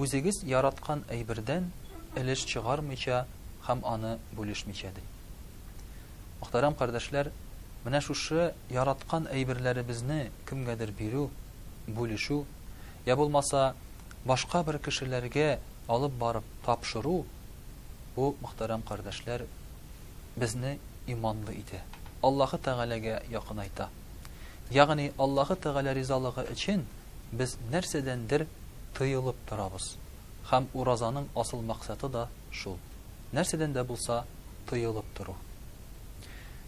үзегез яраткан әйбердән өлеш чыгармыйча һәм аны бүлешмичә, ди. Мөхтәрәм кардәшләр, менә шушы яраткан әйберләребезне кемгәдер бирү, бүлешү, йә булмаса, башка бер кешеләргә алып барып тапшыру, бу, мөхтәрәм кардәшләр, безне иманлы итә, Аллаһы Тәгаләгә якынайта. Ягъни Аллаһы Тәгалә ризалыгы өчен, без нәрсәдәндер тыелып торабыз. Һәм уразаның асыл максаты да шул, нәрсәдән дә булса тыелып тору.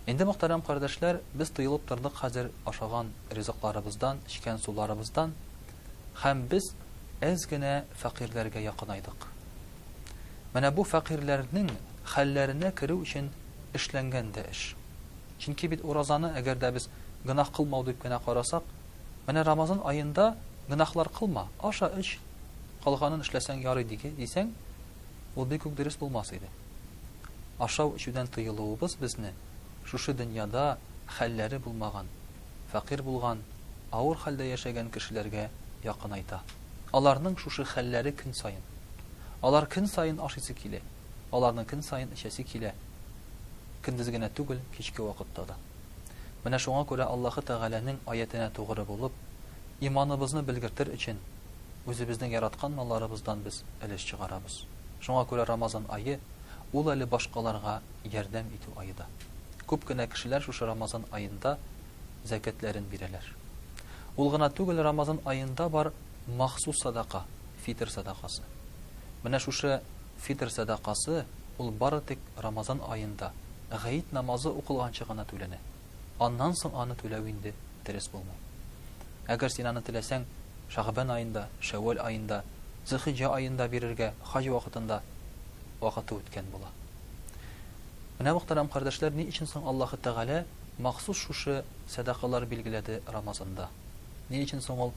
Инде, мөхтәрәм кардәшләр, без тыелып тордык хәзер ашаган ризыкларыбыздан, эчкән суларыбыздан, һәм без әз генә фәкыйрьләргә якынайдык. Менә бу фәкыйрьләрнең хәлләренә керү өчен эшләнгән дә эш. Чөнки бит уразаны, әгәр дә без гөнаһ кылмау дип кенә карасак, Менә Рамазан аенда гөнаһлар кылма, аша-эч, калганын эшләсәң ярый диге, дисәң, ул бик үк дөрес булмас иде. Ашау-эчүдән тыелуыбыз безне шушы дөньяда хәлләре булмаган, фәкыйрь булган, авыр хәлдә яшәгән кешеләргә якынайта. Аларның шушы хәлләре көн саен. Алар көн саен ашыйсы килә, аларны көн саен эчәсе килә, көндез генә түгел, кичке вакытта да. Менә шуңа күрә Аллаһы Тәгаләнең аятенә тугры булып, иманыбызны белгертер өчен, үзебезнең яраткан малларыбыздан без өлеш чыгарабыз. Шуңа күрә Рамазан ае, ул әле башкаларга ярдәм итү ае да. Күп кенә кешеләр шушы Рамазан аенда зәкятләрен бирәләр. Ул гына түгел, Рамазан аенда бар махсус садака, фитер садакасы. Менә шушы Фитыр сәдакасы, ул бары тик Рамазан аенда, Гает намазы укылганчы гына түләнә. Аннан соң аны түләү инде дөрес булмый. Әгәр син аны теләсәң, Шәгъбан аенда, Шәүвәл аенда, Зөлхиҗҗә аенда бирергә, хаҗ вакытында, вакыты үткән була. Менә, мөхтәрәм кардәшләр, ни өчен соң Аллаһы Тәгалә махсус шушы сәдакалар билгеләде Рамазанда. Ни өчен соң ул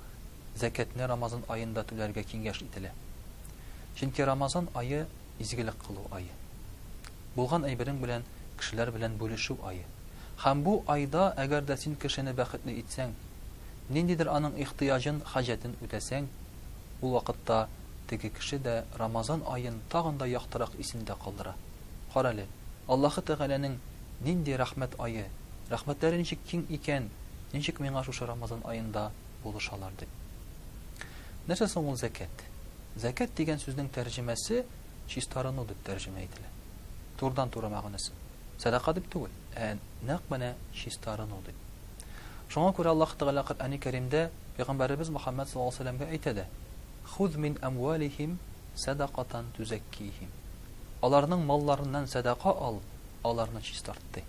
зәкятне Рамазан аенда түләргә киңәш ителә? Чөнки Рамазан ае изгелек кылу ае. Булган әйберең белән кешеләр белән бүлешү ае. Һәм бу айда әгәр дә син кешене бәхетле итсәң, ниндидер аның ихтыяҗын, хаҗәтен үтәсәң, ул вакытта теге кеше дә Рамазан аен тагын да яктырак исендә калдыра. Карале, Аллаһы Тәгаләнең нинди рәхмәт ае! Рәхмәтләре ничек киң икән, ничек миңа шушы Рамазан аенда булышалар дип. Нәрсә соң ул зәкәт? Зәкәт дигән сүзнең тәрҗемәсе чистарыну дип тәрҗемә ителә. Турыдан-туры мәгънәсе. Сәдака дип түгел, ә нәкъ менә чистарыну дип. Шуңа күрә Аллаһ Тәгалә Коръәни Кәримдә пәйгамбәребез Мөхәммәд саллаллаһу алейһи ва сәлләмгә әйтә дә: "Хуз мин әмвалихим сәдакатан тузәккихим". Аларның малларыннан сәдака ал, аларны чистарт, ди.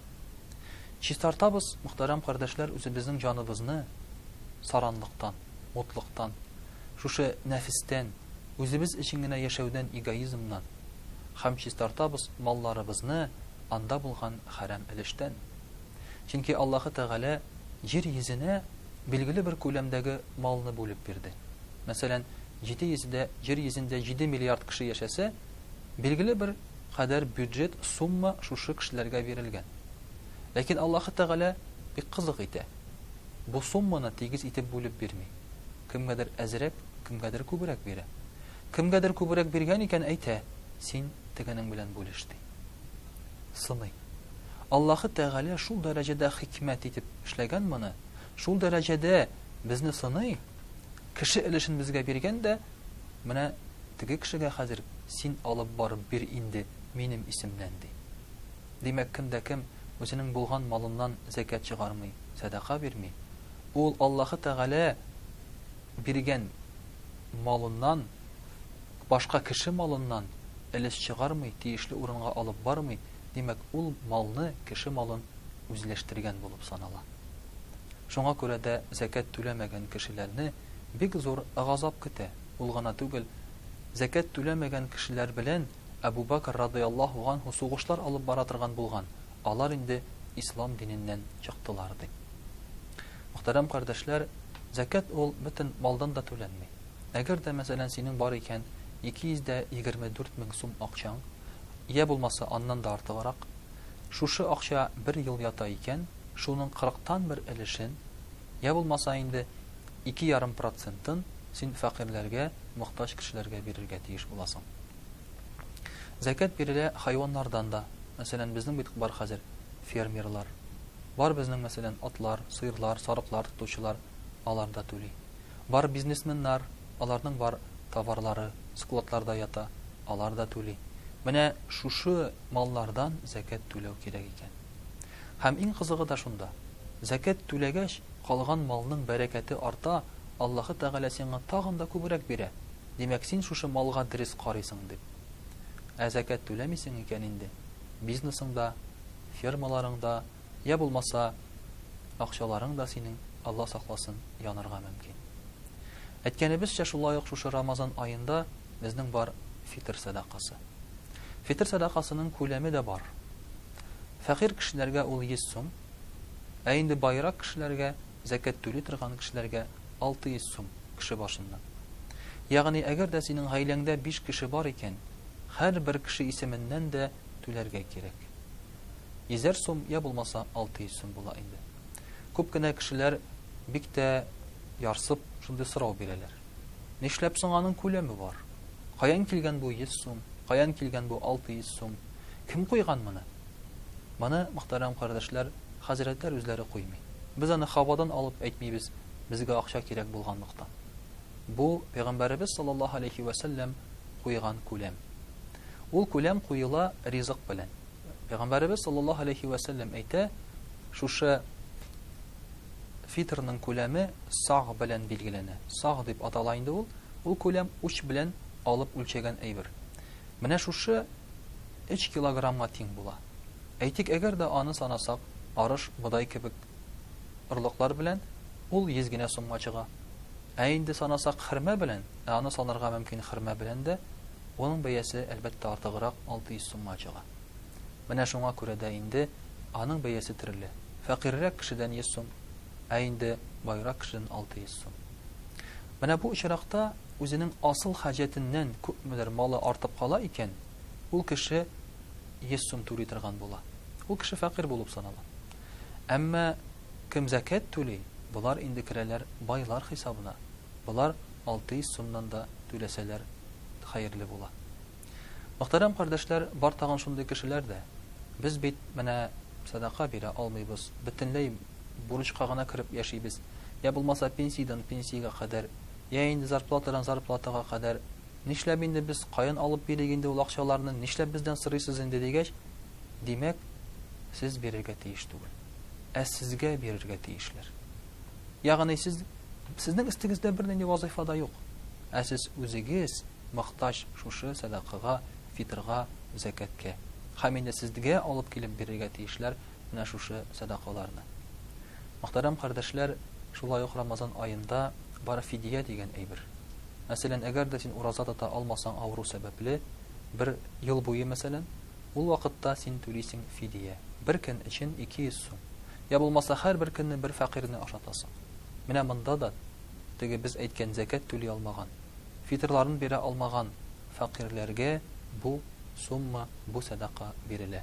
Чистартабыз, мөхтәрәм кардәшләр, үзебезнең җаныбызны саранлыктан, мутлыктан, шушы нәфестән, үзебез өчен генә яшәүдән, эгоизмнан һәм чистартабыз малларыбызны анда булган хәрам өлештән. Чөнки Аллаһы Тәгалә җир йөзенә билгеле бер күләмдәге малны бүлеп бирде. Мәсәлән, җиде йөз дә, җир йөзендә җиде миллиард кеше яшәсә, Билгеле бер кадәр бюджет сумма шушы кешеләргә бирелгән. Ләкин Аллаһы Тәгалә бик кызык итә. Бу сумманы тигез итеп бүлеп бирми. Кемгәдер әзрәк, кемгәдер күбрәк бирә. Кемгәдер күбрәк биргән икән, әйтә, Син тегенең белән бүлеш, ди. Сыный. Аллаһы Тәгалә шул дәрәҗәдә хикмәт итеп эшләгән моны, шул дәрәҗәдә безне сыный, кеше өлешен безгә биргән дә, Менә теге кешегә хәзер син алып барып бир инде минем исемнән, ди. Димәк, кем дә кем үзенең булган малыннан зәкят чыгармый, сәдака бирми. Ул Аллаһы Тәгалә биргән малыннан, башка кеше малыннан өлеш чыгармый, тиешле урынга алып бармый, димәк, ул малны, кеше малын үзләштергән булып санала. Шуңа күрә дә зәкят түләмәгән кешеләрне бик зур газап көтә, ул гына түгел, зәкят түләмәгән кешеләр белән Әбу Бәкер радыяллаһу ганһу сугышлар алып бара торган булган, алар инде ислам диненнән чыктылар, ди. Мөхтәрәм кардәшләр, зәкят ул бөтен малдан да түләнми. Әгәр дә, мәсәлән, синең бар икән 224 мең сум акчаң, йә булмаса аннан да артыграк, шушы акча бер ел ята икән, шуның кырыктан бер өлешен, Йә булмаса инде ике ярым процентын син фәкыйрьләргә, мохтаҗ кешеләргә бирергә тиеш буласың. Зәкят бирелә хайваннардан да. Мәсәлән, безнең бит бар хәзер фермерлар. Бар безнең, мәсәлән, атлар, сыерлар, сарыклар тотучылар, алар да түли. Бар бизнесменнар, аларның бар товарлары складларда ята, алар да түли. Менә шушы маллардан зәкят түләү кирәк икән. Һәм иң кызыгы да шунда, зәкят түләгәч, калган малның бәрәкәте арта, Аллаһы Тәгалә сиңа тагын да күбрәк бирә, димәк, син шушы малга дөрес карыйсың дип. Ә зәкят түләмисең икән инде, бизнесыңда, фермаларыңда, йә булмаса, акчаларың да синең, Алла сакласын, янырга мөмкин. Әйткәнебезчә, шулай ук шушы Рамазан аенда безнең бар фитыр сәдакасы. Фитыр сәдакасының күләме дә бар. Фәкыйрь кешеләргә ул 100 сум, ә инде баерак кешеләргә, зәкят түли торган кешеләргә 600 сум, кеше башыннан. Ягъни әгәр дә синең гаиләңдә биш кеше бар икән, һәрбер кеше исеменнән дә түләргә кирәк. Йөзәр сум йә булмаса 600 сум була инде. Күп кенә кешеләр бик тә ярсып шундый сорау бирәләр. Нишләп соң аның күләме бар? Каян килгән бу 100 сум, каян килгән бу 600 сум? Кем куйган моны? Моны, мөхтәрәм кардәшләр, хәзрәтләр үзләре куймый. Без аны һавадан алып әйтмибез, безгә акча кирәк булганлыктан. Бу, пәйгамбәребез саллаллаһу алейһи вә сәлләм куйган күләм. Ул күләм куела ризык белән. Пәйгамбәребез саллаллаһу алейһи вә сәлләм әйтә, шушы фитрның күләме саг белән билгеләнә. Саг дип атала инде ул. Ул күләм уч белән алып үлчәгән әйбер. Менә шушы өч килограммга тиң була. Әйтик, әгәр дә аны санасак, арыш, бодай кебек орлыклар белән ул йөз генә сумга чыга. Ә инде санасак хөрмә белән, ә аны санарга мөмкин хөрмә белән дә, уның бәясе, әлбәттә, артыграк, алты йөз сумга чыга. Менә шуңа күрә дә инде аның бәясе төрле. Фәкыйрьрәк кешедән йөз сум, ә инде баерак кешедән алты йөз сум. Менә бу очракта үзенең асыл хаҗәтеннән күпмедер малы артып кала икән, ул кеше йөз сум түли торган була. Ул кеше фәкыйрь булып санала. Әмма кем зәкят түли, болар инде керәләр байлар хисабына. Болар алты йөз сумнан да түләсәләр хәерле була. Мөхтәрәм кардәшләр, бар тагын шундый кешеләр дә. Без бит менә сәдака бирә алмыйбыз, бөтенләй бурычка гына кереп яшибез, йә булмаса пенсиядән пенсиягә кадәр Йә инде зарплатадан зарплатага кадәр, нишләп инде без, каян алып бирик инде ул акчаларны, нишләп бездән сорыйсыз инде, дигәч, димәк, сез бирергә тиеш түгел. Ә сезгә бирергә тиешләр. Ягъни сез, сезнең өстегездә бернинди вазыйфа да юк. Ә сез үзегез мохтаҗ шушы сәдакага, фитрга, зәкәткә. Һәм инде сезгә алып килеп бирергә тиешләр, менә шушы сәдакаларны. Мөхтәрәм кардәшләр, шулай ук Рамазан аенда бар фидия дигән әйбер. Мәсәлән, әгәр дә син ураза тота алмасаң авыру сәбәпле, бер ел буе мәсәлән, ул вакытта син түлисең фидия. Бер көн өчен 200 сум. Я булмаса һәрбер көнне бер фәкыйрьне ашатасың. Менә монда да теге без әйткән зәкят түли алмаган, фитырларын бирә алмаган фәкыйрьләргә бу сумма, бу сәдака бирелә.